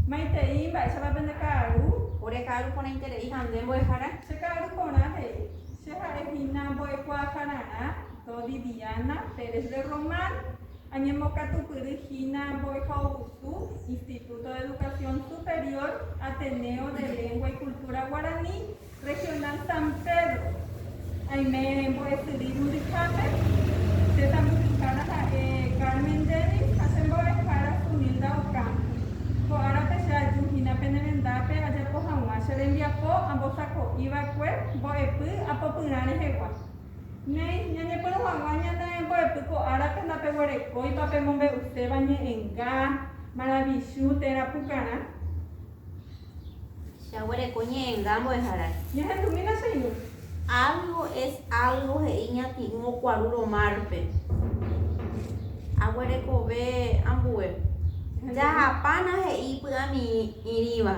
Maitei, mba'éichapa pende ka'aru? Ore ka'aru porãiterei ha nde mbo'ehára. Che ka'aru porã he'i. Che ha'e hína mbo'ekuaahararã Dodi Diana Pérez de Román. Añembokatupyry hína mbo'ehaovusu Instituto de Educación Superior Ateneo de Lengua y Cultura Guaraní. Regional San Pedro, aime mbo'esyry Rumbichápe, che tambuhyhára ha'e Carmen Dennis ha che mbo'ehára Sunilda Ocampo. Ko árape che aju hína pene rendápe ajapo haguã che rembiapo ambosako'i va'ekue mbo'epy apopyrã rehegua. Néi, ñañepyrũ haguã ñane mbo'epy ko árape ndapeguerekóipa pemombe'uséva ñe'ẽnga, maravichu, térã pukarã. Jaguereko ñe'ẽnga mbo'ehára. Ñahendumína che irũ. Algo es algo he'i ñati'ũ okuarúrõ márpe. Aguerekove ambue. Jahapána he'i py'amirĩva.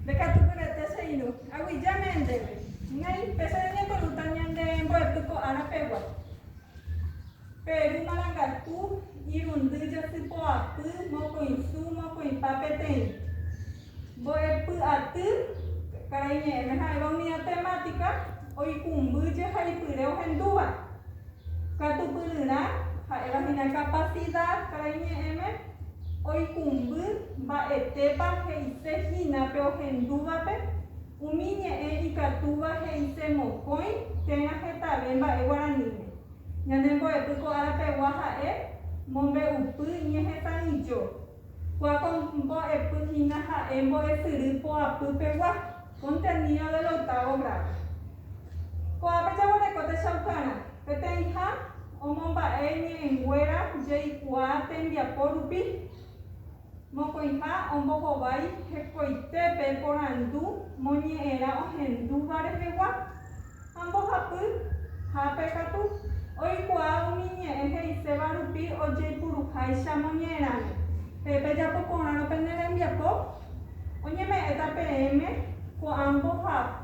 Ndekatukyre'ete che irũ. Aguijáme ndéve. Néi, péicha reñepyrũta ñande mbo'epy ko ára pegua. Peru marangatu, irundy, jasypoapy, mokõisu, mokõipa peteĩ. Mbo'epyaty, karaiñe'ẽme ha'éva unida temátika, oikũmby jehaipyre ohendúva. Katupyryrã, ha'éva hína kapasida, karaiñe'ẽme, oikũmby mba'etépa he'ise hína pe ohendúvape, umi ñe'ẽ ikatúva he'ise mokõi térã hetave mba'e guaraníme. Ñane mbo'epy ko ára pegua ha'e mombe'upy ñehetãijo. Kua ko mbo'epy hína ha'e mbo'esyry poapy pegua, contenido del octavo grado. Ko'ápe jaguereko techaukarã, peteĩha omomba'e ñe'ẽnguéra jeikuaa tembiapo rupi. Mokõiha ombohovái hekoitépe porandu moñe'ẽrã ohendúva rehegua, ha mbohapy hápe katu, oikuaa umi ñe'ẽ he'iséva rupi ojeipuruháicha moñe'ẽrãme. Pe pejapo porãrõ pene rembiapo, oñeme'ẽta peẽme ko'ã mbohapy.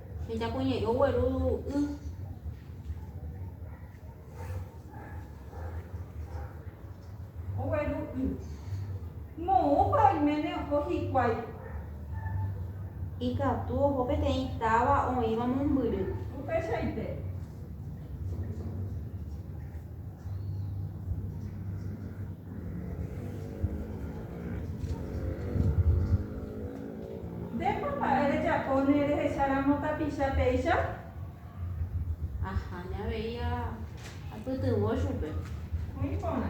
Ejapoña'i ogueru y. Ogueru y. Moõpa oiméne oho hikuái. Ikatu oho peteĩ táva oĩva mombyry. Upeichaite. Ndépa mba'e rejapo ne rehecháramo tapicha péicha? Aháme avei apytyvõ chupe. Oĩ porã.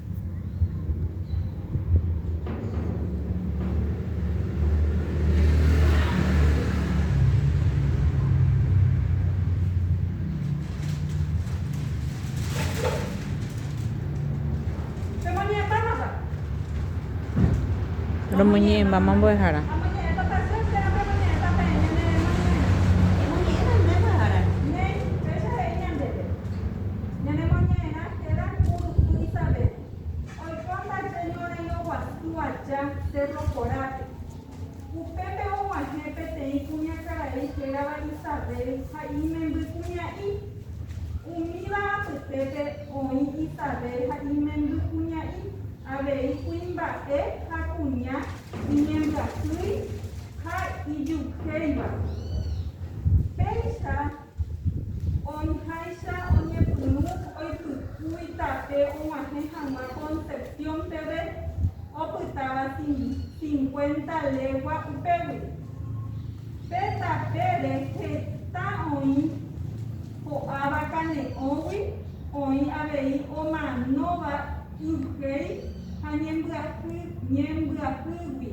Romoñe'ẽmbáma mbo'ehára. Héra ku rusu Isabel, oiko ndaje ñorairõ guasu aja Cedro Jorápe. Upépe og̃uahẽ peteĩ kuñakarai hérava Isabel ha imemby kuña'i. Umíva apytépe oĩ Isabel ha imemby kuña'i avei kuimba'e ha kuña iñembyasýi ha ijuhéiva. Péicha Oĩháicha oñepyrũ oipykúi tape og̃uahẽ hag̃ua Concepción peve, opytáva cincuenta legua upégui. Pe tapére heta oĩ ko'áva kane'õgui, oĩ avei omanóva yvhéi ha ñembyahýgui.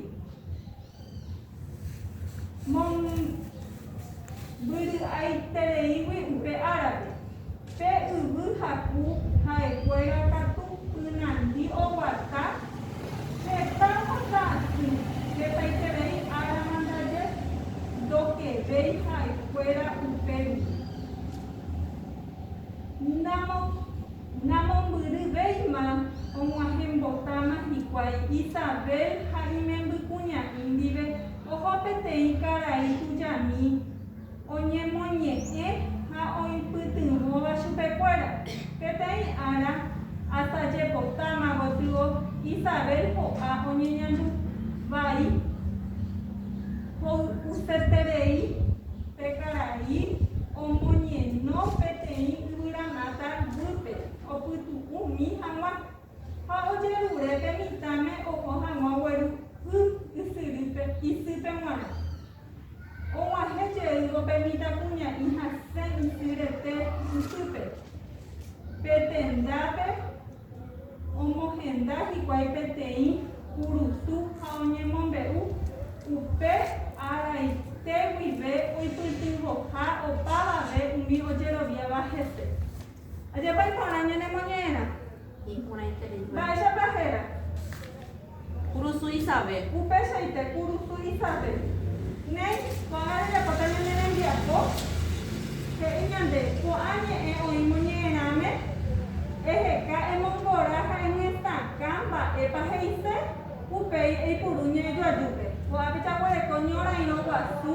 mombyry'aitereígui upe árape, pe yvy haku ha'ekuéra katu ynandi oguata heta heta aty, hetaiterei árama ndaje ndokevéi ha'ekuéra upe rupi. Namombyryvéima og̃uahẽmbotáma hikuái Isabel ha imembykuña'i ndive oho peteĩ karai tujami oñemoñe'ẽ ha oipytyvõva chupekuéra. Peteĩ ára, asajepotáma gotyo Isabel ho'a oñeñandu vai. Ho'useterei pe karai omoñeno peteĩ yvyramáta guýpe, opytu'ũ mi hag̃ua, ha ojerure pe mitãme oho hag̃ua gueru y ysyrýpe isýpe g̃uarã. Og̃uahẽ jeývo pe mitãkuña'i hasẽ isy rete isýpe, pe tendápe, Omohenda hikuái peteĩ kurusu ha oñemombe'u upe araite guive oipytyvõha opavave umi ojeroviáva hese. Ajapaiporã ñanemoñe'ẽrã. Mba'éichapa héra? Kurusu Isabel. Upeichaite kurusu Isabel. Néi, ko'ág̃a rejapóta ñane rembiapo, he'i ñande, ko'ã ñe'ẽ oĩmo ñe'ẽrãme, eheka emongora ha eñetakã mba'épa he'ise, upéi eipuru ñe'ẽjoajúpe. Ko'ápe jaguereko ñorairõ guasu,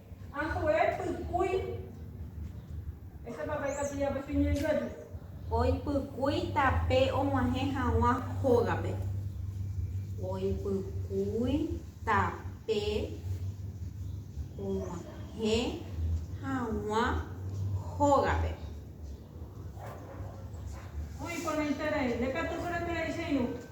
Oipykúi tape og̃uahẽ hag̃ua hógape. Oipykúi tape og̃uahẽ hag̃ua hógape. Muy importante rei. Ndekatúkuri rei che irũ.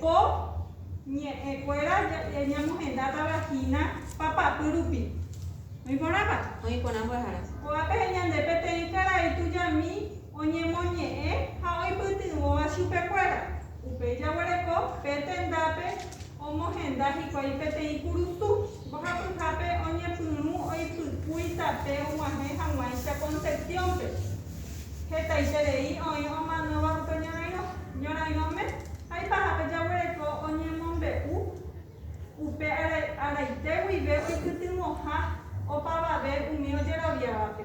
Po ñe'ẽkuéra ñamohendáta vagina papapy rupi. Oĩ porãpa? Oĩ porã mbyahara. Ko'ápe heñande peteĩ karai tujami oñemoñe'ẽ ha oipytyvõva chupekuéra. Upéi jaguereko pe tendápe omohenda hikuái peteĩ kurusu. Mbohapyhápe oñepyrũ oipykúi tape og̃uahẽ hag̃uáicha Concepción-pe. Hetaiterei oĩ omanóva upe ñorairõ. Ñorairõme aipahápe jaguereko oñemombe'u upe araite guive oipytyvõha opavave umi ojeroviávape.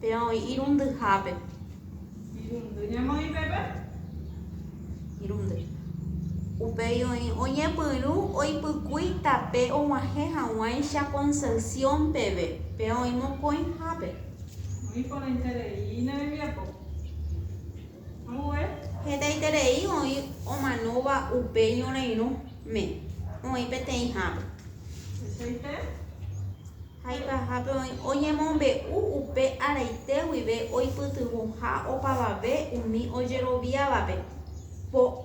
Péva oĩ irundyhápe. Irundy ñemoĩ pépe. Irundy. Upéi oĩ oñepyrũ oipykúi tape og̃uahẽ hag̃uáicha Concepción peve. Péva oĩ mokõihápe. Oĩ porãiterei ne rembiapo. Hetaiterei oĩ omanóva upe ñorairõ me, oĩ peteĩhápe. Haipahápe oĩ oñemombe'u upe araite guive oipytyvõha opavave umi ojeroviávape.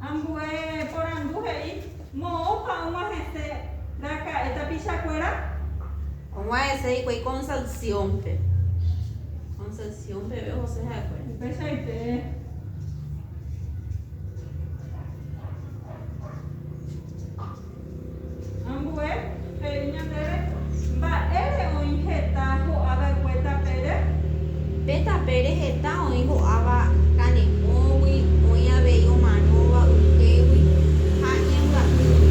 Ambue porandu he'i moõpa og̃uahẽse raka'e tapichakuéra. Og̃uahẽse hikuái Concepción-pe. Concepción peve ohose ha'ekuéra. Upeichaite. Ambue he'i ñandéve, Mba'ére oĩ heta ho'a va'ekue tapére? Pe tapére heta oĩ ho'áva kanepõgui, oĩ avei omanóva yhégui ha iñambyahýgui.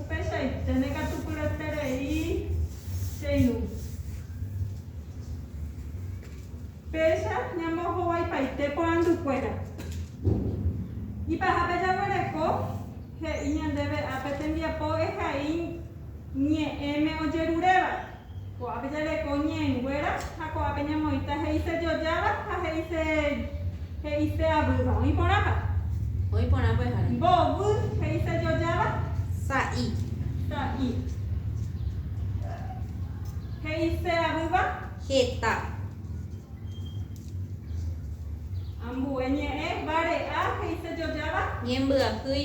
Upeichaiténe katu pyeterei che irũ. Péicha ñamohovaipaite porandukuéra. Ipahápe jaguereko he'i ñandéve ápe tembiapo ehai ñe'ẽme ojeruréva. Ko'ápe jareko ñe'ẽnguéra ha ko'ápe ñamoĩta he'ise jojáva ha he'ise he'ise avýva. Oĩ porãpa? Oĩ porã mbo'ehára. Mbovy, he'ise jojáva. Sa'i. Sa'i. He'ise avýva. Heta. Ambue ñe'ẽ, vare'a, he'ise jojáva. Ñembyahýi.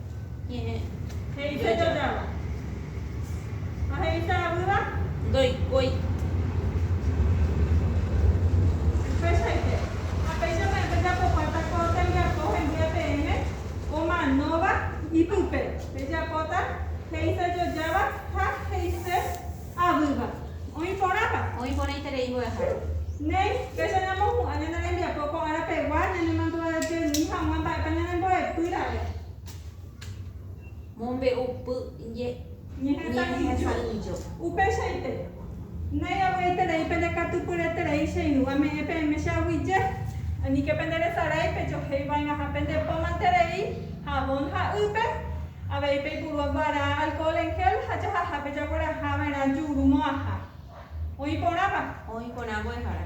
He'ise jajáva. Ha he'ise avýva. Ndoikói. Upeichaite. Ha péicha peẽ pejapokuaáta ko tembiapo hembýe peẽme, ko manóva ipype. Pejapóta he'ise jojáva ha he'ise Avýva. Oĩ porãpa? Oĩ porãiterei mbo'ehára. Néi, péicha ñamohu'ã ñane rembiapo ko ára pegua, ñanemandu'ajeými hag̃ua mba'épa ñanembo'epy ra'e. Mombe'upy ñehesa'ỹijo. Upeichaite. Néi, avy'aiterei pendekatupyreterei che irũ ame'ẽ peẽme che aguije. Aníke penderesarái pejohéi va'erãha pende pómanterei Jabón ha'ýpe, avei peipuru guarã alcohol en gel ha jahaha pe jaguerahava'erã juru mo'ãha. Oĩ porãpa? Oĩ porã mbo'ehára.